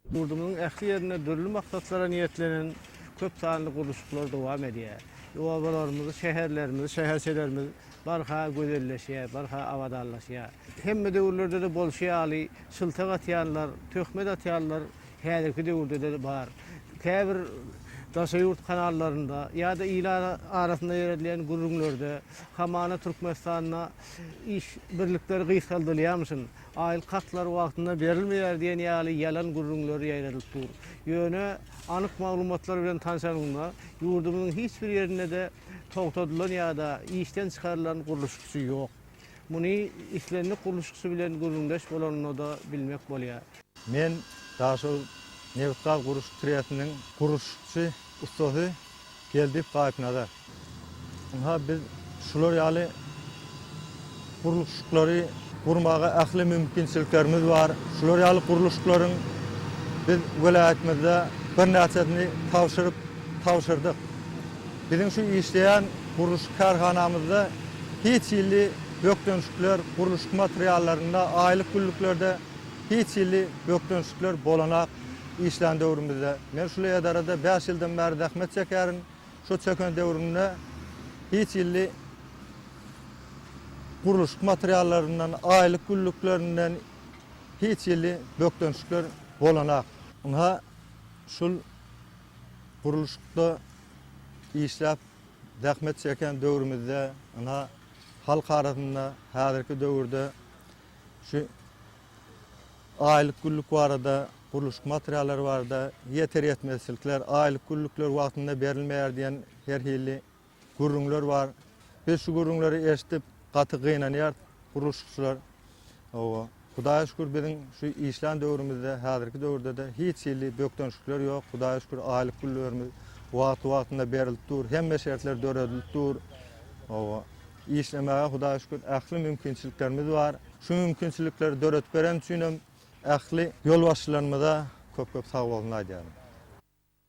Ýurdumyzyň ähli ýerinde dürli maksatlara niýetlenen köp sanly gurluşyklar dowam edýär. Obalarymyz, şäherlerimiz, şäherçelerimiz barha gözelleşýär, barha abadanlaşýar. Hemme döwürlerde-de bolşy ýaly, şyltak atýanlar, töhmet atýanlar häzirki döwürde-de bar. Käbir daşary ýurt kanallarynda ýa-da il arasynda ýöredilýän gürrüňlerde hamana Türkmenistanda iş birlikleri gysgaldylýarmyşyn, aýlyk hatlary wagtynda berilmeýär diýen ýaly ýalan gürrüňler ýaýradylyp dur. Ýöne anyk maglumatlar bilen tanşanyňda, ýurdumyzyň hiç bir ýerinde-de togtadylan ýa-da işden çykarylan gurluşykçy ýok. Muny islendik gurluşykçy bilen gürrüňdeş bolanyňda-da bilmek bolýar. Men Daşoguz nebit-gaz guruş trestiniň gurluşykçy ussasy Geldiýew Gaýypnazar. Ynha, biz şular ýaly gurluşyklary gurmaga ähli mümkinçiliklerimiz bar. Şular ýaly gurluşyklaryň biz welaýatymyzda birnäçesini tabşyryp, tabşyrdyk. Biziň şu işleýän gurluşyk kärhanamyzda hiç hili bökdençlikler gurluşyk materiallarynda, aýlyk-günlüklerde, Hiç hili bökdençlikler bolanak işlän döwrümizde, men şul edarada bäş ýyldan bäri zähmet çekärin, şu çeken döwrümde hiç hili gurluşyk materiallaryndan, aýlyk günlüklerinden hiç hili bökdençlikler bolanak. Ynha, şul gurluşykda işläp zähmet çeken döwrümizde, ynha, halk arasynda häzirki döwürde Şu aýlyk-günlük barada, gurluşyk materiallary barada ýeter-ýetmezçilikler, aýlyk-günlükler wagtynda berilmeýär diýen her hili gürrüňler bar. Biz şu gürrüňleri eşidip, gaty gynanýarys gurluşykçylar. Hawa, Hudaýa şükür, biziň şu işlän döwrümizde, häzirki döwürde-de hiç hili bökdençlikler ýok. Hudaýa şükür, aýlyk-günlüklerimiz wagty-wagtynda berilip dur, hemme şertler döredilip dur. Hawa. Işlemäge Hudaýa şükür ähli mümkinçiliklerimiz bar. Şu mümkinçilikleri döredip beren üçinem ähli ýolbaşçylarymyza köp-köp sagbolsun aýdýaryn.